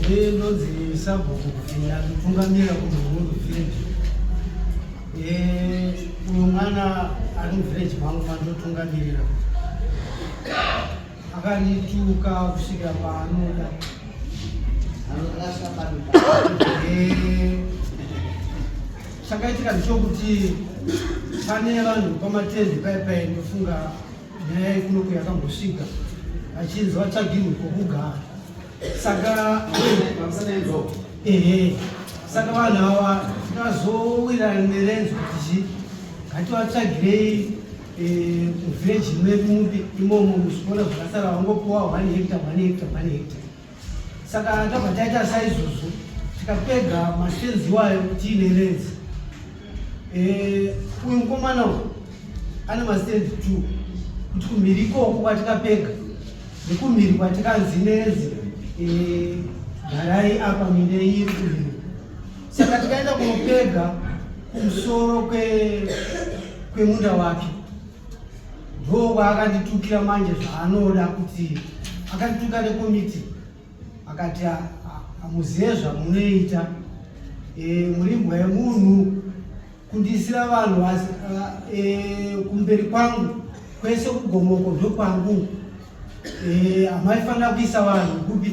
ndinonzi sabhuku kufinda kutungamira kuti huru village uyu mwana ari muvillage mangu mandotungamirira akanituka kusvika paanoda eh, chakaitika ndichokuti pane vanhu pamatende paye paye ndofunga nyaya yekunoku yakambosvika achinzi vatsvagirwe kwokugara saka ehe saka vanhu ava tikazowirana nerenzo kuti chii ngativatsvagirei Eh, kuvheji medu mupi imomo muzvikora zvakasara vangopiwa one hekta one hekta one hekta saka tabva taita saizvozvo tikapedza mastenzi iwayo tiine renzi eh, uyu mukomana uyu ane mastenzi two kuti kumhiri ikoko kwatikapedza nekumhiri kwatikanzi nenzi eh, garai apa mine iri kumhiri saka tikaenda kunopedza kumusoro kwe kwemunda wake ndokwa akanditukira manje zvaanoda kuti akandituka nekomiti akati hamuzive zvamunoita e, murimbwa yemunhu kundiisira vanhu e, kumberi kwangu kwese kugomoko ndokwangu e, hamaifanira e, kuisa vanhu kupi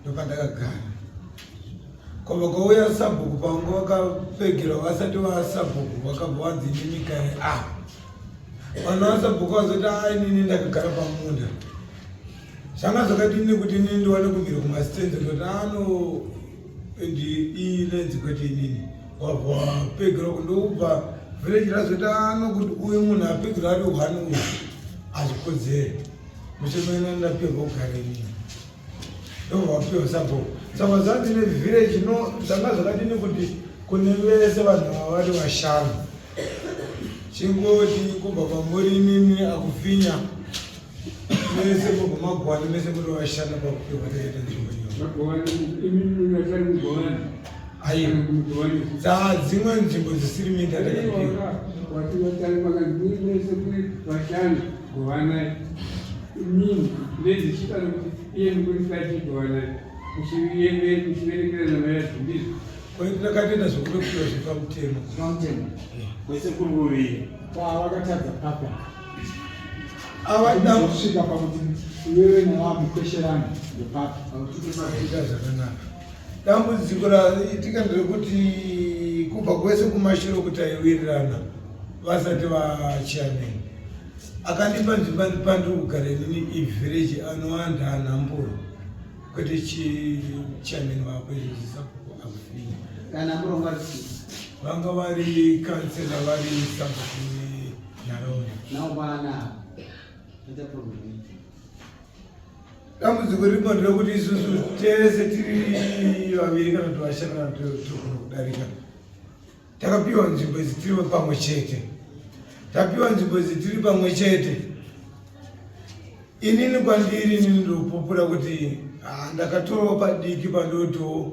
ndopandakagara kobva kwauya sabhuku pangu vakapfegerwa vasati vasabhuku vakabva wadzinimika e a ah. vanhu vasabhuku vazoti a ah, inini ndakagara pamunda zvanga zvakati ini kuti inini ndiwane kumira kumasitenzi ndoti ano ah, ndi inenzi kwete inini wabva wapfegerwa kundokubva village razoti ano kuti uyu munhu apfegerwa ari hwani uyu azvikodzere muchemena ndapfegerwa kugara inini ndovapiwa sabo saka zvanzi nevillage no zvanga zvakadini kuti kune vese vanhu vava vari vashanu chingoti kubva kwamuri imimi akufinya mese mugumagwani mese muri vashanu pakupiwa taita nzvimbo iyo saa dzimwe nzvimbo dzisiri minda ndakapiwa ndakatoenda zvekutopiwa zvepamutemo kwese kuri kuviri kwavakatadza papa avada kusvika pakuti iwewe nawamukwesherana ndepapa akututosakuita zvakanaka Dambudziko raitika nderekuti kubva kwese kumashiro kuti aiwirirana vasati vachairman akandipa nzvimba ndipandiri kugara inini ivhireji anowanda anhamburo kwete chichairman vako izvozisapoko akufinya vanga vari kansela vari sabhuku nharaunda dambudziko riripo nderekuti isusu tese tiri vaviri kana kuti vashanana togona kudarika takapiwa nzvimbo idzi tiri pamwe chete tapiwa nzvimbo idzi tiri pamwe chete inini kwandiri inini ndopupura kuti ah, ndakatorowo padiki pandotiwo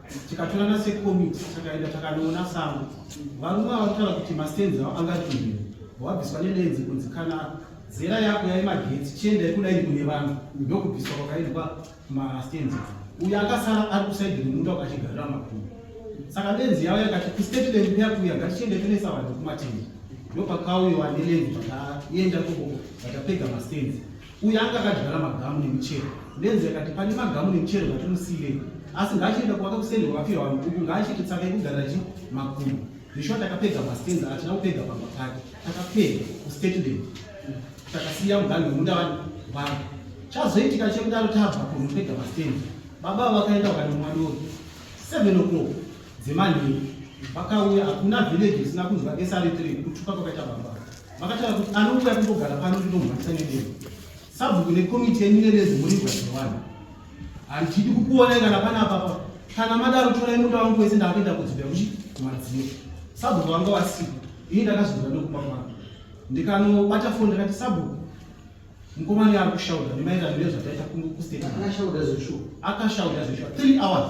tikatorana sekomiti takaenda takanoona sango varume vavataura kuti mastenzi avo angatumire wabviswa nelenzi kunzi kana zera yako yave magetsi chienda ikudaini kune vanhu ndokubviswa kwakaitwa mastenzi uyo akasara ari kusaidi remunda ukachigarira makumu saka lenzi yavo yakati kustate lenzi yakuya ngatichienda tonesa vanhu kumatende ndopakauyiwa nelenzi vakaenda koko vakapega mastenzi uye anga akadyara magamu nemichero ndenzi yakati pane magamu nemichero ngatimusiyirei asi ngaachienda kuvaka kusende kwakafirwa vanhu uku ngaachiiti tsaka yekugara chi makumu zvishwa takapedza mastenza atina kupedza pamba pake takapedza kustatedent takasiya mugani wemunda vanhu vanhu chazoitika chekudaro tabva kuno kupedza mastenza baba vakaenda kukati mwadoro seven o'clock dzemanhii vakauya hakuna village isina kunzwa sr3 kutuka kwakaita baba Vakataura kuti anouya kungogara pano ndinomhanyisa nedemo. Sabhuku nekomiti yenyu nerezi muri gwadzirwana. Handidi kukuonai kana pana apapa. Kana madaro torai munda wangu wese ndakuenda kudzibira kuchi madziro. Sabhuku wanga wasipo. Ini ndakazvibva ndokupa mwana. Ndikanobata foni ndakati sabhuku mukomana yari kushaudha nemaererano nezvataita kunge kustate. Akashaudha zveshuwa. Akashaudha zveshuwa. 3 hours.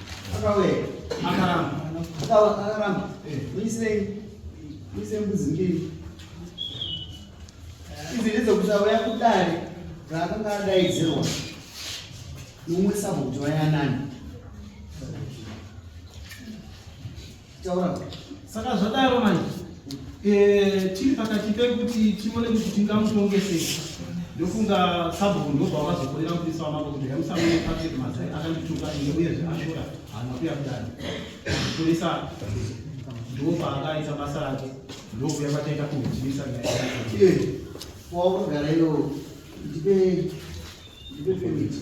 Akauya. Akaramba. Akawa akaramba. Eh. Uisei. Uisei mbudzi mbiri. Idzi ndedzokuzauya kudare raakanga adaidzirwa nomwe sabhuti wayanani. saka zvadaro manje eh, tiri pakati pekuti tione kuti tingamutongesei ndofunga sabhuku ndobva wakazokorera mupisa wamambo kuti hemusamune patrick mazai akandituka ine uyezve ashora hana kuya kudani mapurisa ndo paakaita basa rake ndokuya kwataita kuhujimisa nyaya waunogara iyo ndipe ndipe pemiti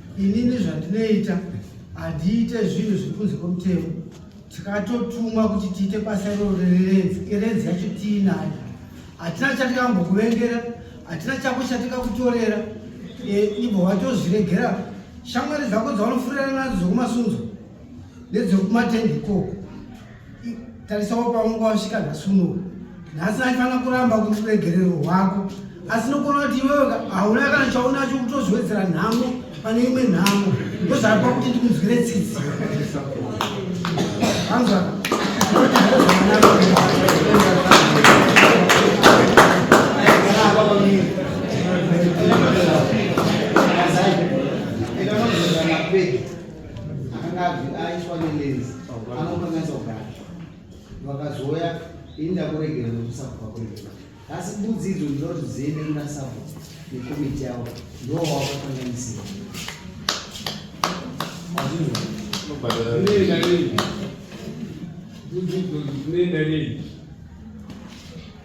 Inini zvandinoita handiite zvinhu zviri kunze kwemutemo. Tikatotumwa kuti tiite basa iroro rerenzi, irenzi yacho tiinayo. Hatina chatikambokuvengera, hatina chako chatikakutorera. E, ibvo watozviregera shamwari dzako dzaunofurira nadzo dzekumasunzo ndedzekumatende ikoko tarisawo paunga wasvika nhasi unowu nhasi aifanira kuramba kuti uregerero hwako asi nokuona kuti iwewe hauna kana chaunacho kutozowedzera nhamo pane imwe nhamo ndozvaipa kuti ndikunzwire tsitsi anzwa akanga aiswa nelenzi anokanganisa kugara vakazouya ini ndakuregera nokusabhuka kuregera asi mbudzi idzo ndinoda kuti dziende kuna sabhu nekomiti yavo ndiwo wakakanganisira Thank you.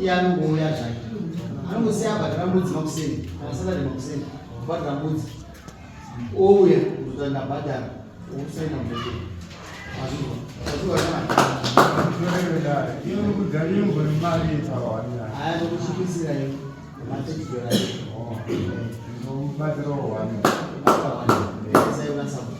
iye anongouya zvake anongosiya abhatira mbudzi makuseni kana satade makuseni kubhatira mbudzi ouya kuzotaa ndabhadhara okusaina mudeke aya tokuchipisira iyo matechidora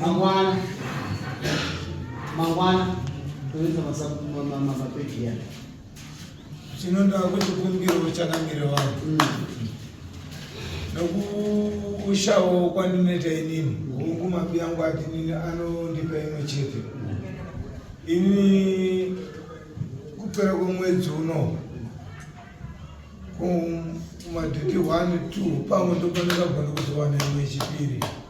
Mangwana. Mangwana. Toyeza masabu mama mama peki ya. Chino ndo akuti kumbiro uchanamire wao. Mm. Nokushawo kwandinoita inini. Hungu mapi yangu ati nini anondipa imwe chete. Mm. Ini kupera kwemwedzi uno kumadhiti 1 2 pamwe ndopanakagona kuzowana imwe chipiri. Mm.